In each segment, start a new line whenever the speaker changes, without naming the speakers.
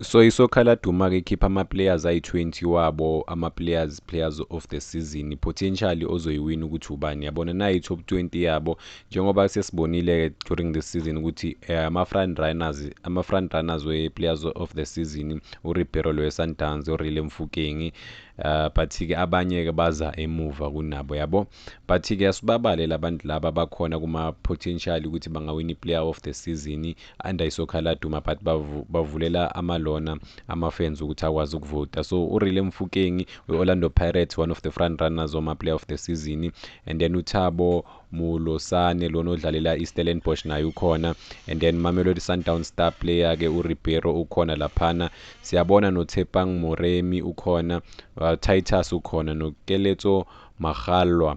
So isokha laduma ke khipha ama players ayi 20 wabo ama players players of the season potentially ozoyiwina ukuthi ubani yabona nayi top 20 yabo njengoba sesibonile ke during this season ukuthi eh, ama front runners ama front runners we players of the season u Ribeiro lo Sundowns u Rile Mfukeng uh, but ke abanye ke baza emuva kunabo yabo but ke asibabale labantu laba bakhona kuma potential ukuthi bangawina player of the season under isoccer laduma but bavu, bavulela amalona amafans ukuthi akwazi ukuvota so urile mfukeng we-orlando pirates one of the front runners wama-player of the season and then uthabo mulosane lona odlalela i-stellenbosch naye ukhona and then mamelodi sundown star player ke uribeiro ukhona laphana siyabona nothepang moremi ukhona uh, titus ukhona nokeletso magalwa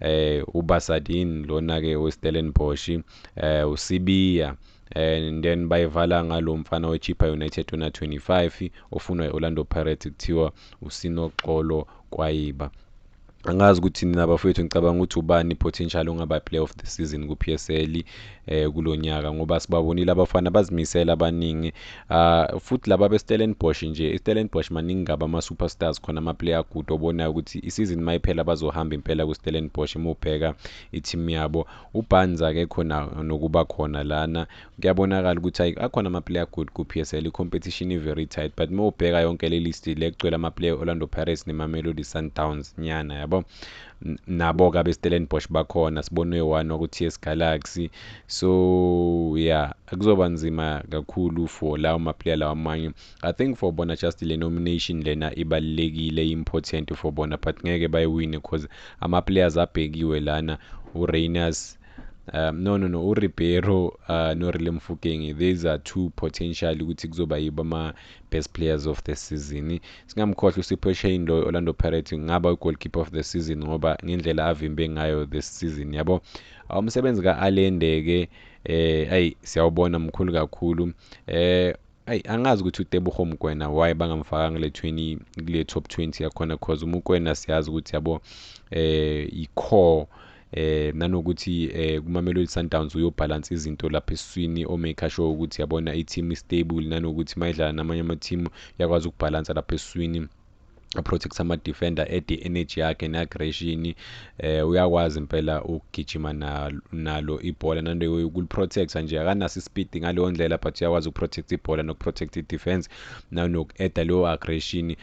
eh uBasadin lona ke weStellenbosch eh uSibiya and then bayivala ngalo mfana weChippa United ona 25 ofunwa eOrlando Pirates kuthiwa usinoxolo kwayiba angazi ukuthi nina bafowethu ngicabanga ukuthi ubani potential ongaba player of the season ku-PSL eh kulonyaka ngoba sibabonile abafana bazimisela abaningi ah futhi laba beStellenbosch nje iStellenbosch maningi ngaba ama superstars khona ama player good obonayo ukuthi isizini mayiphela bazohamba impela kuStellenbosch mubheka iteam yabo uBanz ake khona nokuba khona lana kuyabonakala ukuthi akhona ama player good ku PSL i competition i very tight but mubheka yonke le list le kugcwele ama player Orlando Pirates neMamelodi Sundowns nyana yabo nabo-ke abestellenbosch bakhona sibonwe one waku-ts galaxy so ya yeah, kuzoba nzima kakhulu for lawo maplayer lawa amanye i think for bona just le nomination lena ibalulekile important for bona but ngeke bayiwine because ama-players abhekiwe lana urainers um no no no uribeiro uh, norile mfukenge these are two potential ukuthi kuzoba yibo best players of the season singamkhohlwa usipho shane loyo orlando pirates kungaba ugoalkeeper of the season ngoba ngendlela avimbe ngayo this season yabo umsebenzi ka-alende-ke eh ayi siyawubona mkhulu kakhulu eh ayi angazi ukuthi utebuho mkwena why bangamfakanga le 20 kule top 20 yakhona cause umukwena siyazi ukuthi yabo eh i-core eh nanokuthi eh kuMamelodi Sundowns uyobhalansa izinto lapha esiswini omaker sure ukuthi yabona i-team istable nanokuthi mayidlala namanye ama-team yakwazi ukubhalansa lapha esiswini protect ama-defender ede energy yakhe ne-aggression eh uyakwazi impela ukugijima nalo ibhola nando ukuliprotecta nje akanaso ispeed ngaleyo ndlela but uyakwazi ukuprotect ibhola nokuprotect i-defense nanoku-eda leyo aggression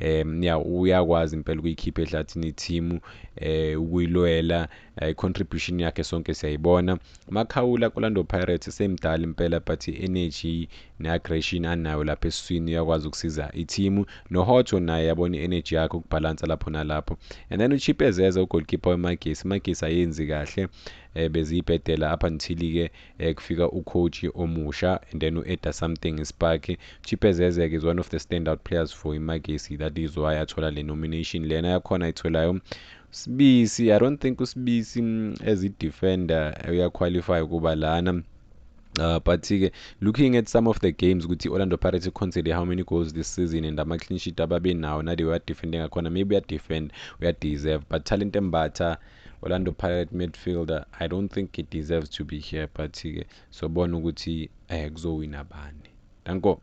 um ya uyakwazi impela ukuyikhipha ehlathini ithimu um eh, ukuyilwela eh, i-contribution um, yakhe sonke siyayibona makhawula kolando pirates semdala impela but i-energy ne-aggression anayo lapha esiswini uyakwazi ukusiza ithimu nohotsho naye yabona i-energy yakhe ukubhalansa lapho nalapho and then uchip ezeza ugolkipa wemagesi imagesi ayenzi kahle um beziyibhedela up until-ke eh kufika u coach omusha and then u edda something ispark Chipez Ezek is one of the stand out players for iMagesi that is why athola le nomination lena yakhona ayitholayo Sibisi I don't think uSibisi mm, as a defender uya qualify kuba lana Uh, but ke looking at some of the games ukuthi Orlando Pirates iconcede how many goals this season and ama clean sheet ababenawo nade uya defend ngakhona maybe uya defend uya deserve but talent embatha Orlando Pirate midfielder I don't think he deserves to be here but ke sobona ukuthi eh kuzowina bani. Danko.